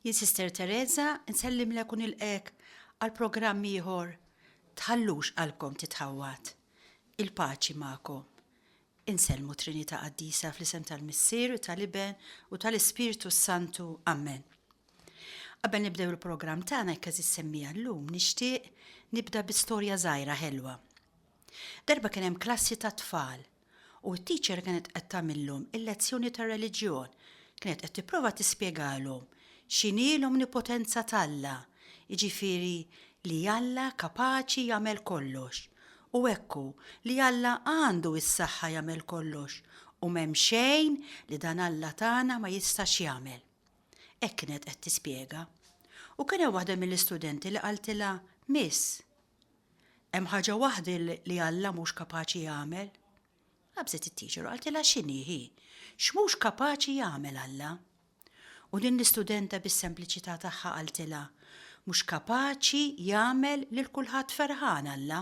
Jien Sister Teresa nsellimlek u nilqgħek għal programm ieħor Tħallux qalbkom titħawwad. Il-paċi magħkom. Insellmu Trinità Qaddisa fl-isem tal-Missier u tal-Iben u tal-Ispirtu s-Santu. Amen. Qabel nibdew il-programm tagħna jekk eżis semmija llum nixtieq nibda bi storja żgħira ħelwa. Darba kien hemm klassi ta' tfal u t-teacher kienet qed tagħmillhom il-lezzjoni tar-reliġjon, kienet qed tipprova tispjegalhom x'inhi l-omnipotenza t'Alla, jiġifieri li Alla kapaċi jagħmel kollox. U hekk hu, li Alla għandu s-saħħa jagħmel kollox u m'hemm xejn li dan Alla tagħna ma jistax jagħmel. Hekk kienet qed tispjega. U kien hemm waħda mill-istudenti li qaltilha, Miss, Hemm ħaġa waħda li Alla mhux kapaċi jagħmel? Qabżet it-tiċer u qaltilha x'inhi hi? X'mhux kapaċi jagħmel Alla? U din l-istudenta bis-sempliċità tagħha qaltilha, mhux kapaċi jagħmel lil kulħadd ferħan Alla.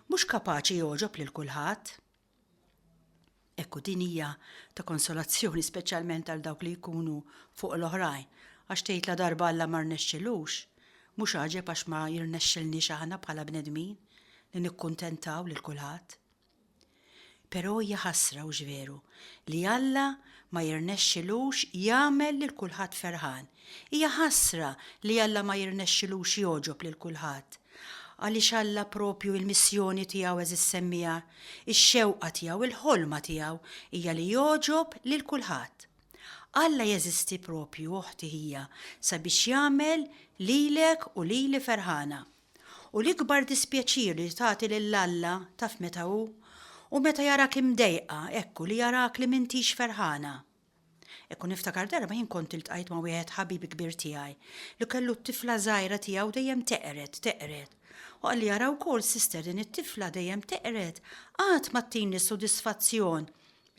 Mhux kapaċi jogħġob lil kulħadd. Hekk hu din hija ta' konsolazzjoni speċjalment għal dawk li jkunu fuq l-oħrajn, għax tgħid la darba Alla ma rnexxilux, mhux għaġeb għax ma jirnexxilniex aħna bħala bnedmin li nikkuntentaw lil kulħadd. Però hija ħasra hux veru li Alla ma jirnexxilux jagħmel lil kulħadd ferħan, Hija ħasra li Alla ma jirnexxilux jogħġob lil kulħadd. Għaliex Alla proprju il-missjoni tiegħu għeżież semmiegħa, ix-xewqa tiegħu, il-ħolma tiegħu hija li jogħġob lil kulħadd. Alla jeżisti proprju, oħti ħija, sabiex jagħmel lilek u lili ferħana. U l-ikbar dispjaċir li tagħti lil Alla taf meta hu? Hu meta jarak imdejqa, hekk hu li jarak li m'intix ferħana. Hekk u niftakar darba jien kont iltqajt ma' wieħed ħabib kbir tiegħi li kellu t-tifla żgħira tiegħu dejjem teqred, teqred. U qalli ara wkoll sister din it-tifla dejjem teqred qatt ma ttini s-sodisfazzjon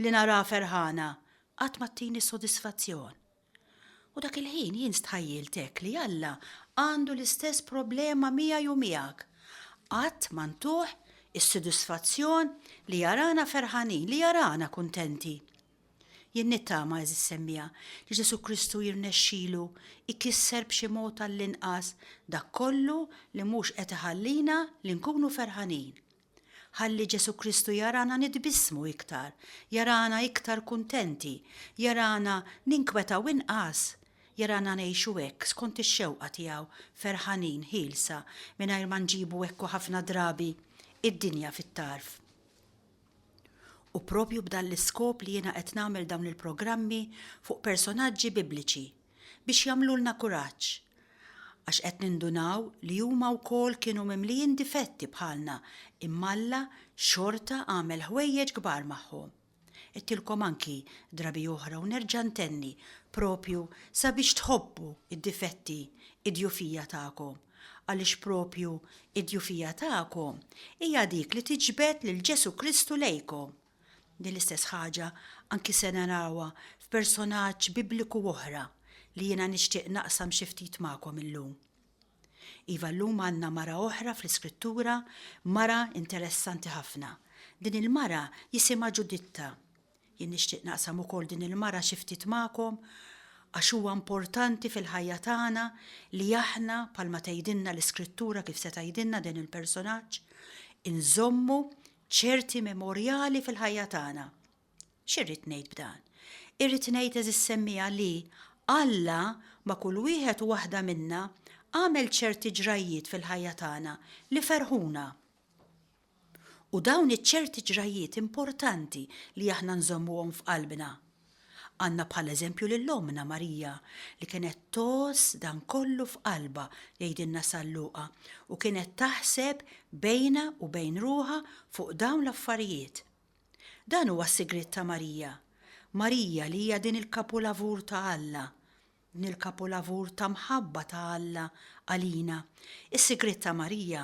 li naraha ferħana, qatt ma ttini s-sodisfazzjon. U dak il-ħin jien stħajjilt hekk li Alla għandu l-istess problema miegħi u miegħek. Qatt ma ntuh is-sodisfazzjon li jarana ferħanin, li jarana kuntenti. Jien nittama, għeżież semmiegħa, li Ġesù Kristu jirnexxilu jkisser b'xi mod għall-inqas dak kollu li mhux qed iħallina li nkunu ferħanin. Ħalli Ġesù Kristu jarana nitbissmu iktar, jarana iktar kuntenti, jarana ninkwetaw inqas, jarana ngħixu hekk skont ix-xewqa tiegħu, ferħanin, ħielsa, mingħajr ma nġibu hekk u ħafna drabi id-dinja fit-tarf. U proprju b'dan l-iskop li jiena qed nagħmel dawn il-programmi fuq personaġġi Bibliċi biex jagħmlulna kuraġġ. Għax qed nindunaw li huma wkoll kienu mimlijin difetti bħalna imma Alla xorta għamel ħwejjeġ kbar magħhom. Għedtilkom anki drabi oħra u nerġa' ntenni proprju sabiex tħobbu d-difetti, id-djufija tagħkom. għaliex proprju d-djufija tagħkom hija dik li tiġbed lil Ġesù Kristu lejkom. Din l-istess ħaġa anki se narawha f'personaġġ Bibliku oħra li jiena nixtieq naqsam xi ftit magħkom illum. Iva llum għandna mara oħra fl-Iskrittura, mara interessanti ħafna. Din il-mara jisimha Ġuditta. Jien nixtieq naqsam ukoll din il-mara xi ftit magħkom għax huwa importanti fil-ħajja tagħna li aħna bħalma tgħidilna l-Iskrittura kif se tgħidilna dan il-personaġġ, inżommu ċerti memorjali fil-ħajja tagħna. X'irrid ngħid b'dan? Irrid ngħid eżis semmija li Alla ma' kull wieħed u waħda minna għamel ċerti ġrajjiet fil-ħajja tagħna li ferħuna. U dawn iċ-ċerti ġrajjiet importanti li aħna nżommuhom f'qalbna. Għandna bħala eżempju lil ommna Marija li kienet tgħożż dan kollu f'qalbha, jgħidilna San Luqa, u kienet taħseb bejnha u bejn ruħha fuq dawn l-affarijiet. Dan huwa s-sigriet ta' Marija. Marija li hija din il-kapulavur ta' Alla. Din il-kapulavur ta' mħabba ta' Alla għalina, is-sigriet ta' Marija,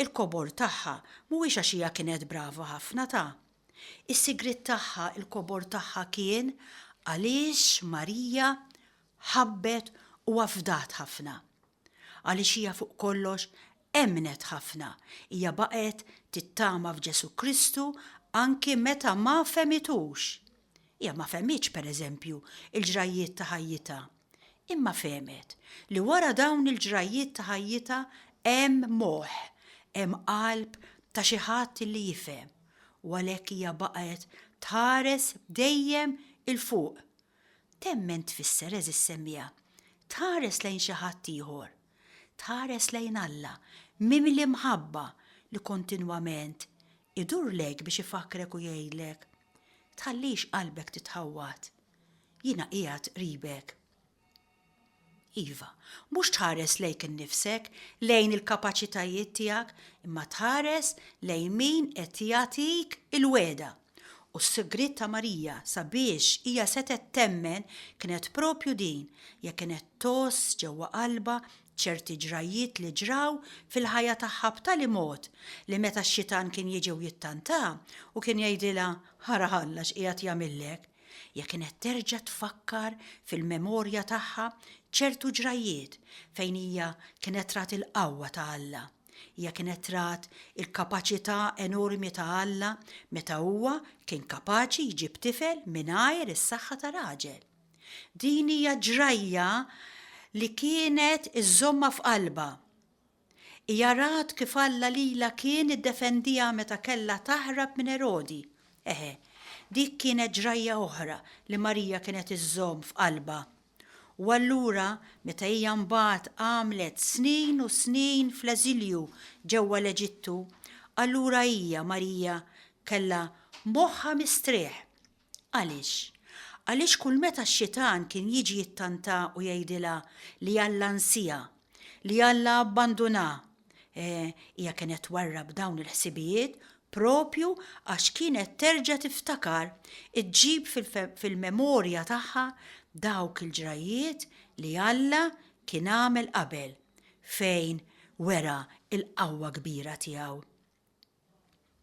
il-kobor tagħha mhuwiex għax hija kienet brava ħafna ta'. Is-sigriet tagħha, il-kobor tagħha kien għaliex Marija ħabbet u afdat ħafna. Għaliex hija fuq kollox emmnet ħafna, hija baqgħet tittama f'Ġesù Kristu anki meta ma fehmitux. Hija ma fehmitx, pereżempju, il-ġrajjiet ta' ħajjitha, imma fehmet li wara dawn il-ġrajjiet ta' ħajjitha hemm moħħ, hemm qalb ta' xi ħadd li jifhem, u għalhekk hija baqgħet tħares dejjem 'il fuq Temmen tfisser, għeżież semmiegħa, tħares lejn xi ħadd ieħor, tħares lejn Alla mimli mħabba li kontinwament idur lejk biex ifakkrek u jgħidlek, Tħallix qalbek titħawwad. Jiena qiegħed qribek. Iva, mhux tħares lejk innifsek, lejn il-kapaċitajiet tiegħek, imma tħares lejn min qed jagħtik il-wegħda. U s-sigriet ta' Marija sabiex hija setgħet temmen kienet proprju din, jekk kienet tgħożż ġewwa qalbha ċerti ġrajjiet li ġraw fil-ħajja tagħha b'tali mod li meta x-xitan kien jiġi u jittantha u kien jgħidilha ara Alla x'qiegħed jagħmillek, Hija kienet terġa' tfakkar fil-memorja tagħha ċertu ġrajjiet fejn hija kienet rat il-qawwa ta' Alla. Hija kienet rat il-kapaċità enormi ta' Alla meta huwa kien kapaċi jġib tifel mingħajr is-saħħa ta' raġel. Din hija ġrajja li kienet iżżommha f'qalbha. Hija rat kif Alla lilha kien iddefendiha meta kellha taħrab minn Erodi. Eħe, dik kienet ġrajja oħra li Marija kienet iżżomm f'qalbha. U allura meta hija mbagħad għamlet snin u snin fl-eżilju ġewwa l-Eġittu, allura hija, Marija, kellha moħħha mistrieħ. Għaliex? Għaliex kull meta x-xitan kien jiġi jittantha u jgħidilha li Alla nsiha, li Alla abbandunha, eh, hija kienet twarrab dawn il-ħsibijiet proprju għax kienet terġa' tiftakar, iġġib fil-memorja tagħha dawk il-ġrajjiet li Alla kien għamel qabel, fejn wera l-qawwa kbira tiegħu.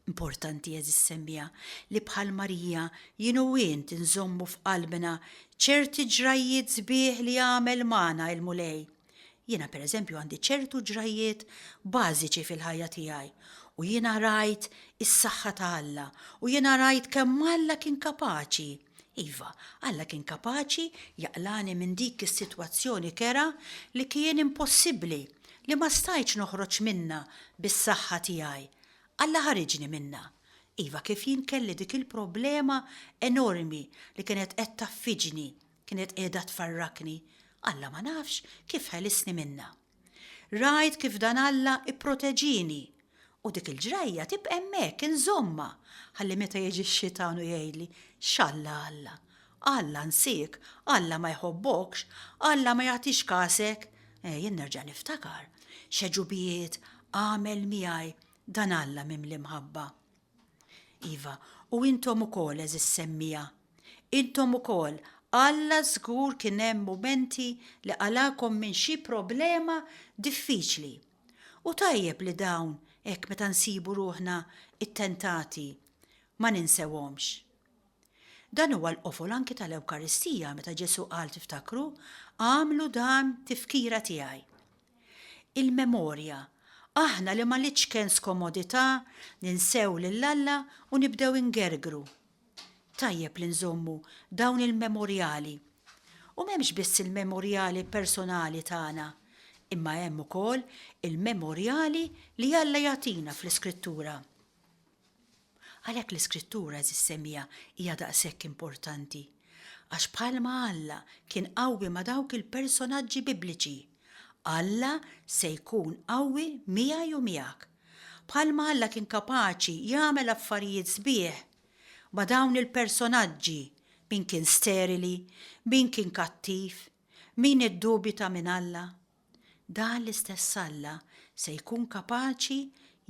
Importanti, għeżież semmiegħa, li bħal Marija jien u int inżommu f'qalbna ċerti ġrajjiet sbieħ li għamel magħna il-Mulej. Jiena pereżempju għandi ċertu ġrajjiet bażiċi fil-ħajja tiegħi u jiena rajt is-saħħa ta' Alla u jiena rajt kemm Alla kien kapaċi Iva, Alla kien kapaċi jaqlagħni minn dik is-sitwazzjoni kerha li kien impossibbli, li ma stajtx noħroġ minnha bis-saħħa tiegħi. Alla ħariġni minnha. Iva, kif jien kelli dik il-problema enormi li kienet qed taffiġni, kienet qiegħda tfarrakni, Alla ma nafx kif ħelisni minnha. Rajt kif dan Alla ipproteġini u dik il-ġrajja tibqa' hemmhekk inżommha ħalli meta jiġi x-xitan u jgħidli, X'Alla Alla? Alla nsiek? Alla ma jħobbokx? Alla ma jagħtix kasek? Eh, jien nerġa' niftakar x'għeġubijiet għamel miegħi dan Alla mimli mħabba. Iva, u intom ukoll għeżież semmiegħa Intom ukoll, Alla żgur kien hemm mumenti li qalakom minn xi problema diffiċli. U tajjeb li dawn hekk meta nsibu ruħna ttentati ma ninsewhomx. Dan huwa l-qofol anki tal-Ewkaristija meta Ġesù qal tiftakru, Agħmlu dan tifkira tiegħi. Il-memorja, aħna li ma litsken skomodità ninsew lil Alla u nibdew ingergru, Tajjeb li nżommu dawn il-memorjali. U m'hemmx biss il-memorjali personali tagħna, imma hemm ukoll il-memorjali li Alla jagħtina fl-Iskrittura. Għalhekk l-Iskrittura, għeżież semija, hija daqshekk importanti. Għax bħalma Alla kien qawwi ma' dawk il-personaġġi Bibliċi, Alla se jkun qawwi miegħi u miegħek. Bħalma Alla kien kapaċi jagħmel affarijiet sbieħ ma' dawn il-personaġġi, min kien sterili, min kien kattiv, min iddubita minn Alla, dan l-istess Alla se jkun kapaċi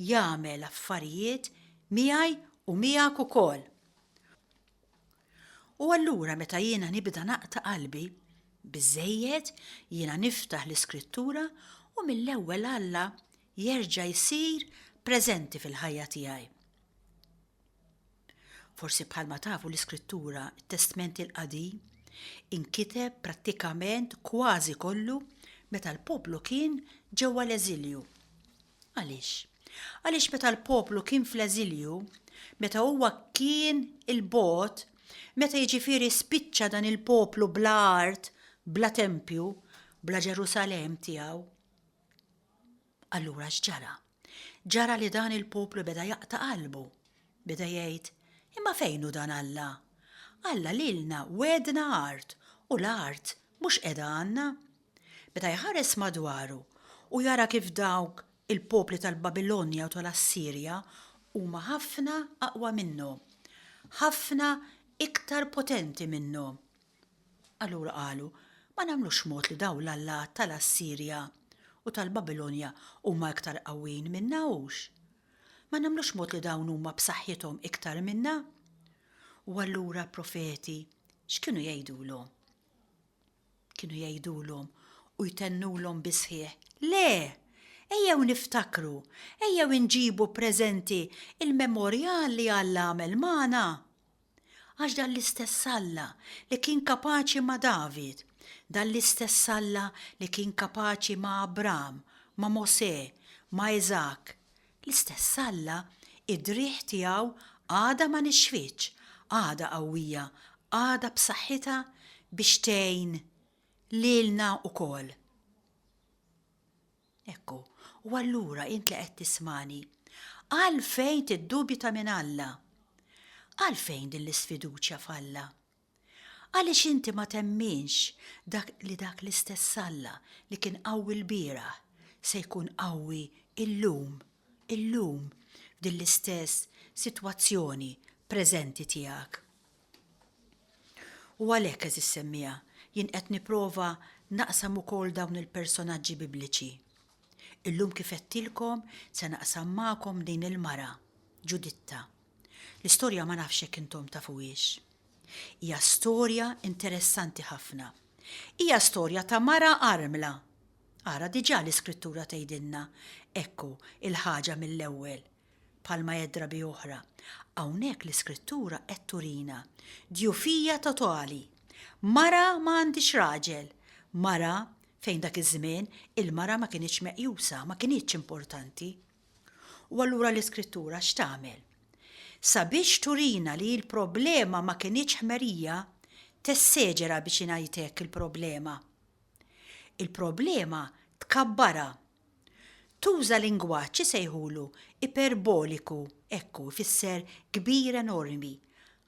jagħmel affarijiet miegħi u miegħek ukoll. U allura meta jiena nibda naqta' qalbi, biżżejjed jiena niftaħ l-Iskrittura u mill-ewwel Alla jerġa' jsir preżenti fil-ħajja tiegħi. Forsi bħalma tafu l-Iskrittura, it-Testment il-Qadim, inkiteb prattikament kważi kollu meta l-poplu kien ġewwa l-eżilju. Għaliex? Għaliex meta l-poplu kien fl-eżilju, meta huwa kien il-bot, meta jiġifieri spiċċa dan il-poplu bla art, bla tempju, bla Ġerusalem tiegħu, Allura x'ġara? Ġara li dan il-poplu beda jaqta' qalbu. Beda jgħid, imma fejn hu dan Alla? Alla lilna wedna art u l-art mhux qiegħda għandna. Beda jħares madwaru u jara kif dawk il-popli tal-Babilonja u tal-Assirja huma ħafna aqwa minnu, ħafna iktar potenti minnu. Allura qalu, Ma nagħmlux mod li dawn l-allat ta' l-Assirja u tal-Babilonja huma iktar qawwijin minna hux? Ma nagħmlux mod li dawn huma b'saħħithom iktar minna? U allura l-profeti x'kienu jgħidulhom? Kienu jgħidulhom u jtennulhom bis-sħiħ, Le! Ejjew niftakru, ejjew inġibu preżenti il-memorjal li Alla għamel magħna. Għax dan l-istess Alla li kien kapaċi ma' David, dan l-istess Alla li kien kapaċi ma' Abram, ma' Mosè, ma' Iżak, l-istess Alla id-driegħ tiegħu għadha ma nixfitx, għadha qawwija, għadha b'saħħitha biex tgħin lilna wkoll. Ekku, u allura int li qed tismagħni, għalfejn tiddubita minn Alla? Għalfejn din l-isfiduċja f'Alla? Għaliex inti ma temminx dak li dak l-istess Alla li kien qawwi lbieraħ se jkun qawwi illum, illum f'din l-istess sitwazzjoni preżenti tiegħek? U għalhekk, għeżież semmiegħa, jien qed nipprova naqsam ukoll dawn il-personaġġi Bibliċi. Illum kif għedtilkom se naqsam magħkom din il-mara, Ġuditta. L-istorja ma nafx jekk intom tafuhiex. Hija storja interessanti ħafna. Hija storja ta' mara armla. Ara diġà l-iskrittura tgħidilna, ekku, il-ħaġa mill-ewwel, Bħal ma jgħid drabi oħra, hawnhekk l-Iskrittura qed turina djufija totali. Mara ma għandhiex raġel, mara, fejn dak iż-żmien il-mara ma kinitx meqjusa, ma kinitx importanti. U allura l-Iskrittura x'tagħmel? Sabiex turina li l-problema ma kinitx ħmerija, tesseġera biex ingħid hekk il-problema. Il-problema tkabbarha Tuża lingwaġġ isejħulu iperboliku, hekk hu, ifisser kbir enormi,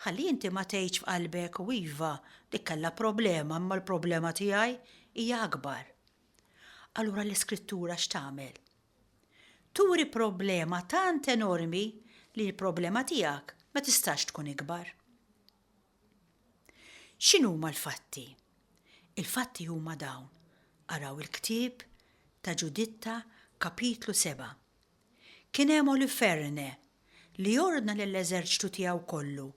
ħalli inti ma tgħidx f'qalbek u iva, dik kellha problema imma l-problema tiegħi hija akbar. Allura l-Iskrittura x'tagħmel? Turi problema tant enormi li l-problema tiegħek ma tistax tkun ikbar. X'inhuma l-fatti? Il-fatti huma dawn, araw il-ktieb ta' Ġuditta kapitlu seba'. Kien hemm Oliferne li ordna lill-eżerċtu tiegħu kollu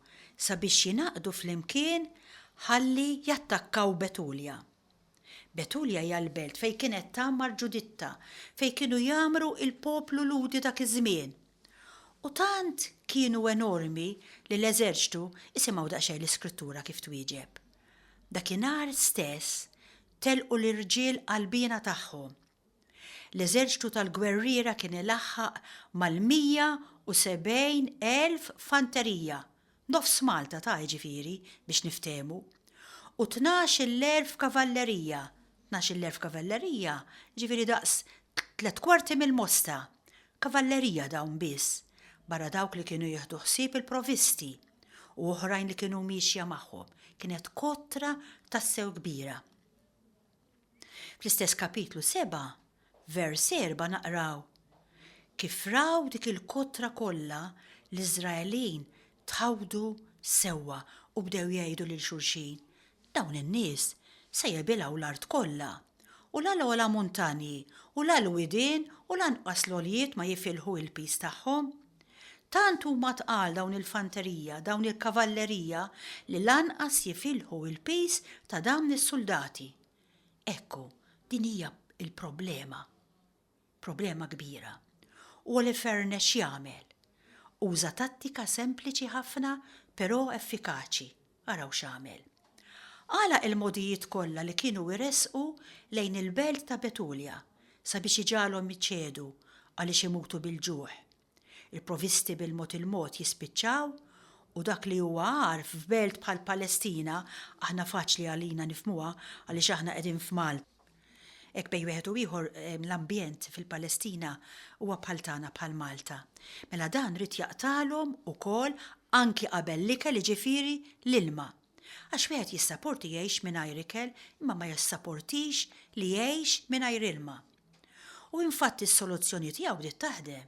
sabiex jingħaqdu flimkien ħalli jattakkaw Betulja. Betulja hija l-belt fejn kienet tgħammar Ġuditta, fejn kienu jgħammru l-poplu Lhudi dak iż-żmien. U tant kienu enormi li l-eżerċtu, isimgħu daqsxejn l-Iskrittura kif twieġeb. Dakinhar stess telqu l-irġiel qalbiena tagħhom. L-eżerċtu tal-gwerriera kien ilaħħaq mal-170,000 fanterija, nofs Malta ta' jiġifieri, biex niftehmu, u tnax-il-elf kavallerija, tnax-il-elf kavallerija jiġifieri daqs tliet kwarti mill-Mosta, kavallerija dawn biss, barra dawk li kienu jieħdu ħsieb il-provisti u oħrajn li kienu miexja magħhom, kienet kotra tassew kbira. Fl-istess Kapitlu 7, vers 4 naqraw, Kif raw dik il-kotra kollha, l-Iżraelin tħawdu sewwa u bdew jgħidu lil xulxin, Dawn in-nies se jebilgħu l-art kollha, u la l-ogħla muntanji u la l-widien u lanqas l-għoljiet ma jifilħu l-piż tagħhom. Tant huma tqal dawn il-fanterija, dawn il-kavallerija li lanqas jifilħu il-piż ta' dawn is-suldati. Ekku, din hija l-problema. Problema kbira. U Holofernes x'jagħmel? Uża tattika sempliċi ħafna però effikaċi. Araw x'għamel. Għalaq il-mogħdijiet kollha li kienu iressqu lejn il-belt ta' Betulja sabiex iġagħalhom iċedu għaliex imutu bil-ġuħ. Il-provisti bil-mod il-mod jispiċċaw u dak li huwa agħar f'belt bħall-Palestina, aħna faċli għalina nifhmuha għaliex aħna qegħdin f'Malta, Hekk bejn wieħed u ieħor l-ambjent fil-Palestina huwa bħal tagħna bħal Malta. Mela dan ried jaqtagħlhom ukoll anki qabel l-ikel jiġifieri l-ilma. Għax wieħed jissaporti jgħix mingħajr ikel imma ma jissaportix li jgħix mingħajr ilma. U infatti s-soluzzjoni tiegħu bdiet taħdem.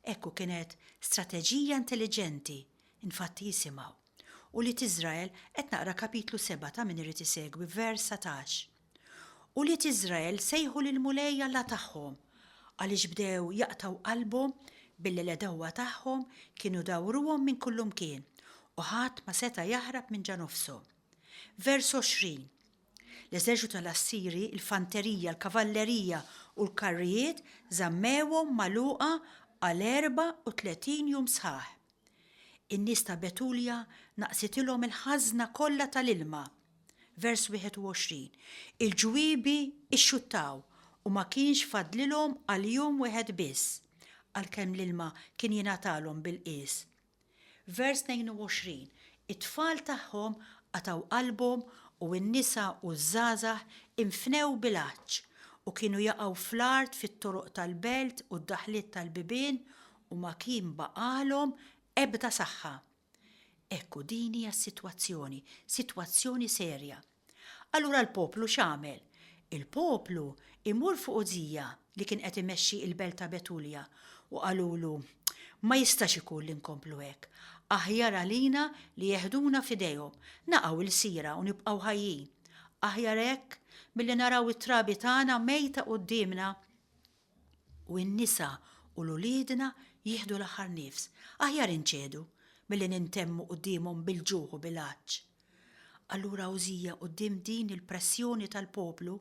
Hekk u kienet strateġija intelliġenti, infatti jisimgħu. U li t'Iżrael qed naqra kapitlu seba' ta' min irid isegwi vers satax. Ulied Iżrael sejħu lill-Mulej Alla tagħhom, għaliex bdew jaqtgħu qalbhom billi l-għedewwa tagħhom kienu dawruhom minn kullimkien, u ħadd ma seta' jaħrab minn ġa nofshom. Vers 20, L-eżerċitu tal-Assiri, il-fanterija, l-kavallerija u l-karrijiet żammewhom magħluqa għal erbgħa u tletin jum sħaħ. In-nies ta' Betulja naqsitilhom il-ħażna kollha tal-ilma. Vers 21, Il-ġwiebi xxuttaw u ma kienx fadlilhom għal jum wieħed biss, għalkemm l-ilma kien jingħatalhom bil-qies. Vers 22, It-tfal tagħhom qatgħu qalbhom u n-nisa u ż-żgħażagħ infnew bil-għatx, u kienu jaqgħu fl-art fit-toroq tal-belt u d-daħliet tal-bibien, u ma kien baqagħlhom ebda saħħa. Hekk hu din hija s-sitwazzjoni, sitwazzjoni serja. Allura l-poplu x'għamel? Il-poplu imur fuq Użija li kien qed imexxi l-belt ta' Betulja u qalulu, Ma jistax ikun li nkomplu hekk. Aħjar għalina li jeħduna f'idejhom, naqgħu lsira u nibqgħu ħajjin. Aħjar hekk milli naraw it-trabi tagħna mejta quddiemna. u n-nisa u l uliedna jieħdu l-aħħar nifs, aħjar inċedu milli nintemmu quddiemhom bil-ġuħ u bil-għatx. Allura Użija quddiem din il-pressjoni tal-poplu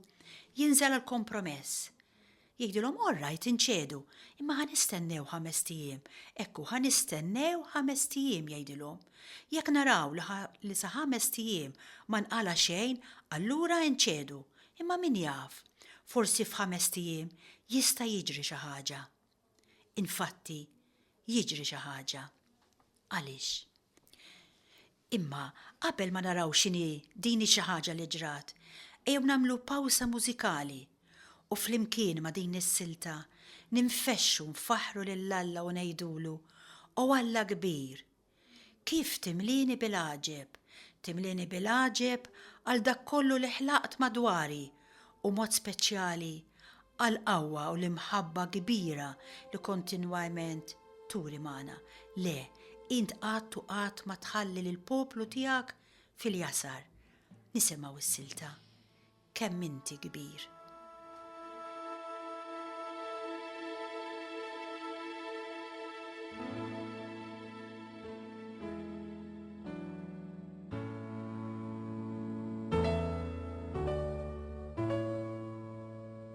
jinżel għal kompromess. Jgħidilhom all right inċedu, imma ħa nistennew ħamest ijiem, ekku ħa nistennew ħamest ijiem jgħidilhom. Jekk naraw li sa ħamest ijiem ma nqala' xejn allura inċedu, Imma min jaf, forsi f'ħamest ijiem jista' jiġri xi ħaġa. Infatti, jiġri xi ħaġa. Għaliex? Imma qabel ma naraw x'inhi din ix-xi ħaġa li ġrat, ejjew nagħmlu pawsa mużikali u flimkien ma' din is-silta ninfexxu nfaħħru lil Alla u ngħidulu, O Alla kbir, Kif timlieni bil-għaġeb! Timlieni bil-għaġeb għal dak kollu li ħlaqt madwari u mod speċjali għall-qawwa u l-imħabba kbira li kontinwajment turi magħna. Le, int qatt u qatt ma tħalli lill-poplu tiegħek fil-jasar. Nisimgħu s-silta. kemm inti kbir.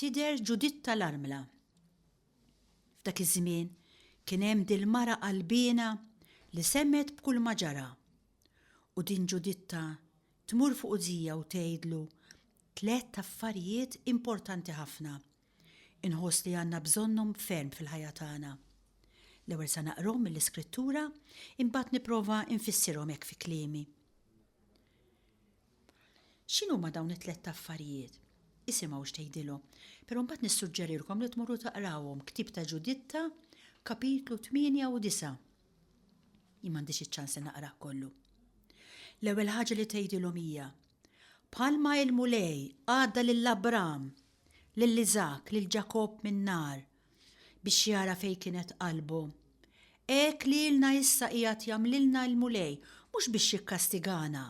Tidher Ġuditta l-Armla. F'dak iż-żmien kien hemm dil-mara qalbiena li semgħet b'kull ma ġara. U din Ġuditta tmur fuq Uzija u tgħidlu tlett affarijiet importanti ħafna. Inħoss li għandna bżonnhom ferm fil-ħajja tagħna. L-ewwel sa naqrhom mill-Iskrittura, imbagħad nipprova nfissirhom hekk fi kliemi. X'inhuma dawn it-tlett affarijiet? Isimgħu x'tgħidilhom. Però mbagħad nissuġġerilkom li tmorru taqrawhom Ktieb ta' Ġuditta, kapitlu tmienja u disa'. Jien m'għandix iċ-ċans li naqrah kollu. L-ewwel ħaġa li tgħidilhom hija, Bħalma l-Mulej għadda lil Abram, lil Iżakk, lil Ġakobb min-nar, biex jara fejn kienet qalbu. Hekk lilna issa qiegħed jagħmlilna l-Mulej mhux biex jikkastigana,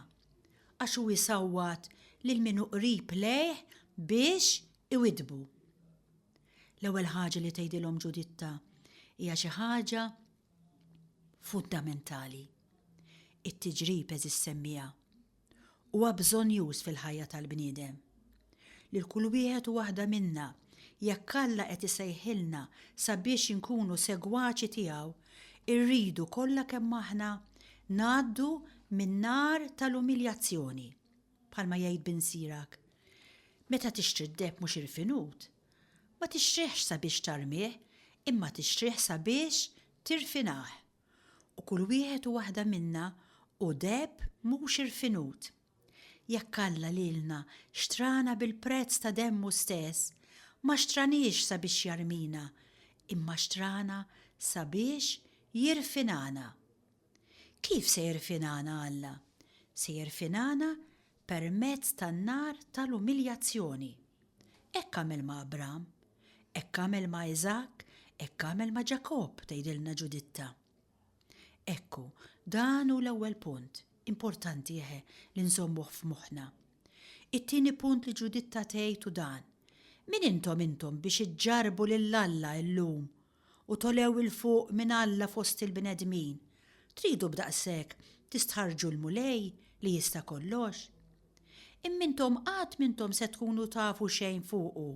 għax hu jsawwat lil min hu qrib lejh biex iwiddbu. L-ewwel ħaġa li tgħidilhom Ġuditta hija xi ħaġa fundamentali. It-tiġrib eżis semmija. Huwa bżonnjuż fil-ħajja tal-bniedem. Lil kull wieħed u waħda minna, jekk Alla qed isejħilna sabiex inkunu segwaċi tiegħu, irridu kollha kemm aħna ngħaddu min-nar tal-umiljazzjoni. Bħalma jgħid binsierak, Meta tixtri d-deheb mhux irfinut, ma tixtrihx sabiex tarmih imma tixtrih sabiex tirfinah. u kull wieħed u waħda minna hu deheb mhux irfinut. Jekk Alla lilna xtrana bil-prezz ta' demmu stess, ma xtraniex sabiex jarmina, imma xtrana sabiex jirfinana. Kif se jirfinana Alla? Se jirfinana permezz tan-nar tal-umiljazzjoni. Hekk għamel ma' Abram, hekk għamel ma' Iżakk, hekk għamel ma' Ġakobb, tgħidilna Ġuditta. Ekku, dan hu l-ewwel punt, importanti eħe li nżommuh f'moħħna. It-tieni punt li Ġuditta tgħid hu dan, Min intom intom biex iġġarrbu lil Alla illum u togħlew 'il fuq minn Alla fost il-bnedmin, tridu b'daqshekk tistħarrġu l-Mulej li jista' kollox? Imma intom qatt m'intom se tkunu tafu xejn fuqu,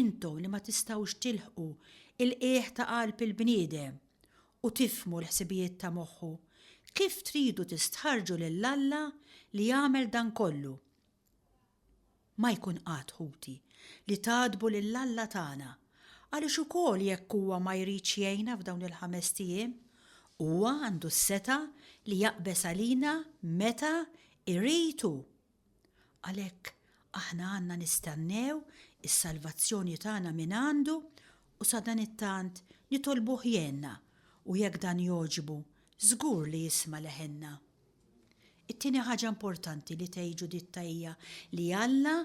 intom li ma tistgħux tilħqu l-qiegħ ta' qalb il-bniedem u tifhmu l-ħsibijiet ta' moħħu, kif tridu tistħarrġu lil Alla li għamel dan kollu? Ma jkun qatt, ħuti, li tagħdbu lil Alla tagħna, għaliex ukoll jekk huwa ma jridx jgħinna f'dawn il-ħamest ijiem, huwa għandu s-setgħa li jaqbeż għalina meta jrid hu. Għalhekk, aħna għandna nistennew is-salvazzjoni tagħna mingħandu u sadanittant nitolbuh jgħinna u jekk dan jogħġbu, żgur li jisma' leħinna. It-tieni ħaġa importanti li tgħid Ġuditta hija li Alla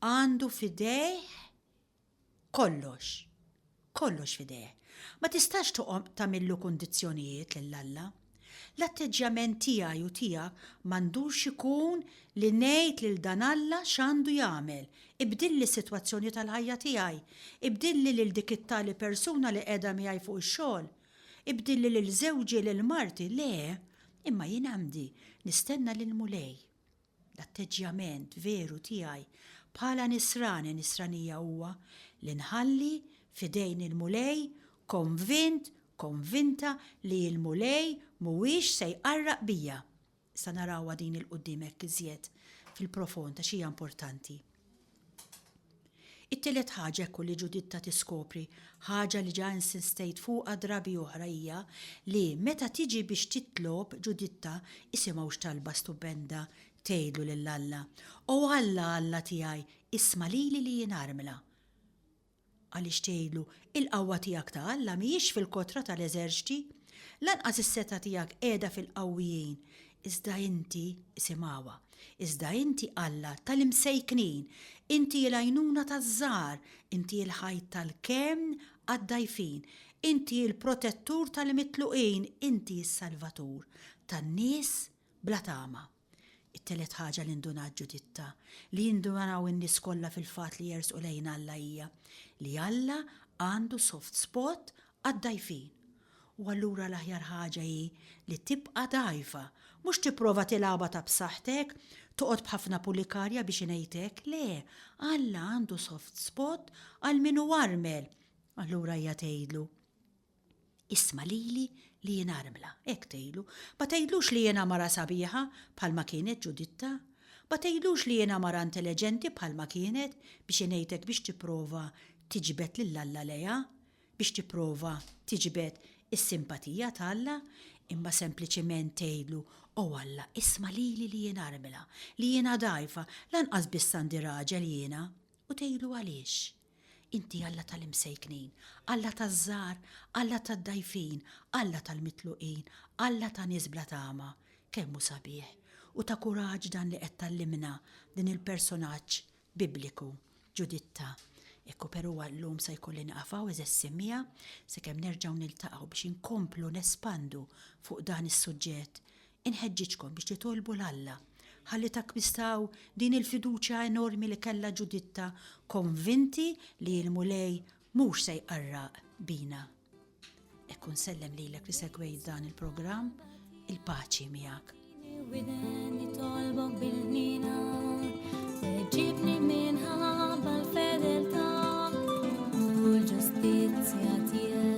għandu f'idejh kollox. Kollox f'idejh. Ma tistax toqgħod tagħmillu kundizzjonijiet lil Alla. L-atteġġjament tiegħi u tiegħek m'għandux ikun li ngħid lil dan Alla x'għandu jagħmel, ibdilli s-sitwazzjoni tal-ħajja tiegħi, ibdilli lil dik it-tali persuna li qiegħda miegħi fuq ix-xogħol, Ibdilli lil żewġi lil marti le, imma jien għandi nistenna lil Mulej. L-atteġġjament veru tiegħi bħala nisrani nisranija huwa li nħalli f'idejn il-Mulej konvint, konvinta li l-Mulej mhuwiex se jqarraq bija. Issa narawha din 'il quddiem hekk iżjed fil-profond għax hija importanti. It-tielet ħaġa hekk hu li Ġuditta tiskopri, ħaġa li ġa insistejt fuqha drabi oħra hija li meta tiġi biex titlob, Ġuditta, isimgħu x'talba stupenda tgħidlu lil Alla, O Alla, Alla tiegħi, isma' lili li jien armla. Għaliex tgħidlu, 'Il-qawwa tiegħek ta' Alla mhijiex fil-kotra ta' l-eżerċti, lanqas is-setgħa tiegħek qiegħda fil-qawwijin, iżda inti, isimgħuha, iżda inti Alla ta' l-imsejknin, inti l-għajnuna taż-żgħar, inti l-ħajt tal-kenn għad-dgħajfin, inti l-protettur tal-mitluqin, inti s-salvatur tan-nies bla tama. It-telet ħaġa li ndunat Ġuditta, li jindunaraw in-nies kollha fil-fatt li jersqu lejn Alla hija, li Alla għandu soft spot għad-dgħajfin. U allura l-aħjar ħaġa hi li tibqa' dgħajfa, mhux tipprova tilgħabha ta' b'saħħtek, toqgħod b'ħafna pulikarja biex ingħidtek, le, Alla għandu soft spot għal min hu armel! Allura hija tgħidlu. Isma' lili li jien armla, hekk tgħidlu. Ma tgħidlux li jiena mara sabiħa bħalma kienet Ġuditta. Ma tgħidlux li jiena mara intelleġenti bħalma kienet biex ingħidlek biex tipprova tiġbed lil Alla lejha, biex tipprova tiġbed is-simpatija ta' Alla, imma sempliċiment tgħidlu, O Alla, isma' lili li jien armla, li jiena dgħajfa, lanqas biss għandi raġel jiena, U tgħidlu għaliex? Inti Alla tal-imsejknin, Alla taż-żgħar, Alla tad-dgħajfin, Alla tal-mitluqin, Alla ta' nies bla tama. Kemm hu sabiħ u ta' kuraġġ dan li qed tgħallimna din il-personaġġ Bibliku, Ġuditta. Ekku perù għal-lum sa jkolli nieqaf hawn għeżeż immiegħa, sakemm nerġgħu niltaqgħu biex inkomplu nespandu fuq dan is-suġġett Inħeġġiġkom biex titolbu 'l Alla ħalli takkwistaw din il-fiduċja enormi li kellha Ġuditta, konvinti li l-Mulej mhux se jqarraq bina. Hekk u nsellem lilek li segwejt dan il-programm, il-paċi miegħek. Widen li tolbok bil-ħnina, weġibni minħabba l-fedeltà u l-ġustizzja tiegħek.